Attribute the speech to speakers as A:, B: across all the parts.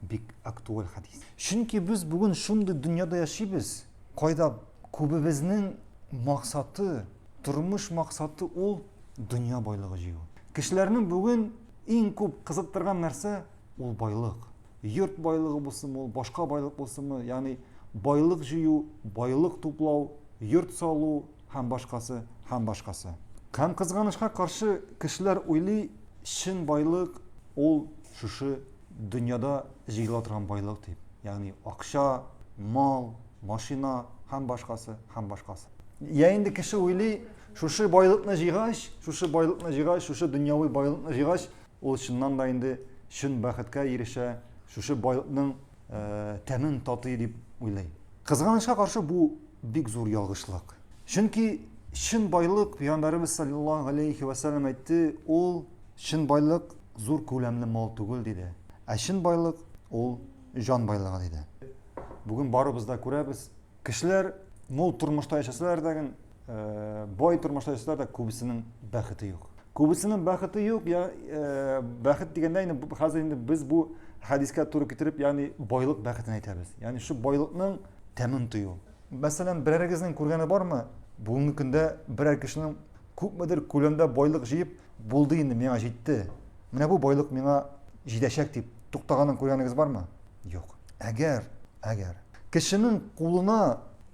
A: Бик актуаль хәдис. Чөнки без бүген шундый дөньяда яшибез, кайда күбебезнең максаты, тормыш максаты ул дөнья байлыгы җыю. Кешеләрнең бүген иң күп кызыктырган нәрсә ул байлык. Йорт байлыгы булсынмы, ул башка байлык булсынмы, ягъни байлык җыю, байлык туплау, йорт салу һәм башкасы, һәм башкасы. Һәм кызганычка каршы, кешеләр уйлый, чын байлык ул шушы Дөньяда җыела торган байлык дип, ягъни акча, мал, машина һәм башкасы, һәм башкасы. Я инде кеше уйлый, шушы байлыкны җыйгач, шушы байлыкны җыйгач, шушы дөньяви байлыкны җыйгач, ул чыннан да инде чын бәхеткә ирешә, шушы байлыкның тәмен татый дип уйлый. Кызганычка каршы, бу бик зур ялгышлык. Чөнки чын байлык, пәйгамбәребез салләллаһу галәйһи вә сәлләм әйтте, ул чын байлык, зур күләмле мал түгел, диде. Ә чын байлык, ул, җан байлыгы, диде. Бүген барыбыз да күрәбез, кешеләр мул тормышта яшәсәләр дә, бай тормышта яшәсәләр дә, күбесенең бәхете юк. Күбесенең бәхете юк, я, бәхет дигәндә инде хәзер инде без бу хәдискә туры китереп, ягъни байлык бәхетен әйтәбез. Ягъни шул байлыкның тәмен тою. Мәсәлән, берәрегезнең күргәне бармы, бүгенге көндә берәр кешенең күпмедер күләмдә байлык җыеп, Булды инде, миңа җитте. Менә бу байлык миңа җитәчәк дип туктаганын күргәнегез бармы? Юк. Әгәр, әгәр кешенең кулына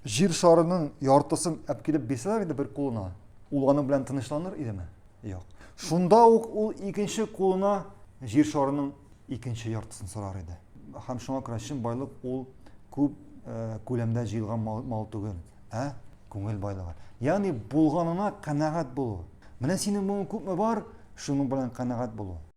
A: җир шарының яртысын әпкилеп бирсәләр иде бер кулына, ул аның белән тынычланыр идеме? Юк. Шунда ук ул икенче кулына җир шарының икенче яртысын сорар иде. Һәм шуңа күрә чын байлык ул күп э, күләмдә җыелган мал, мал түгел. Ә? Күңел байлыгы. Ягъни булганына канәгать булу. Менә синең моң күпме бар, шуның белән канәгать булу.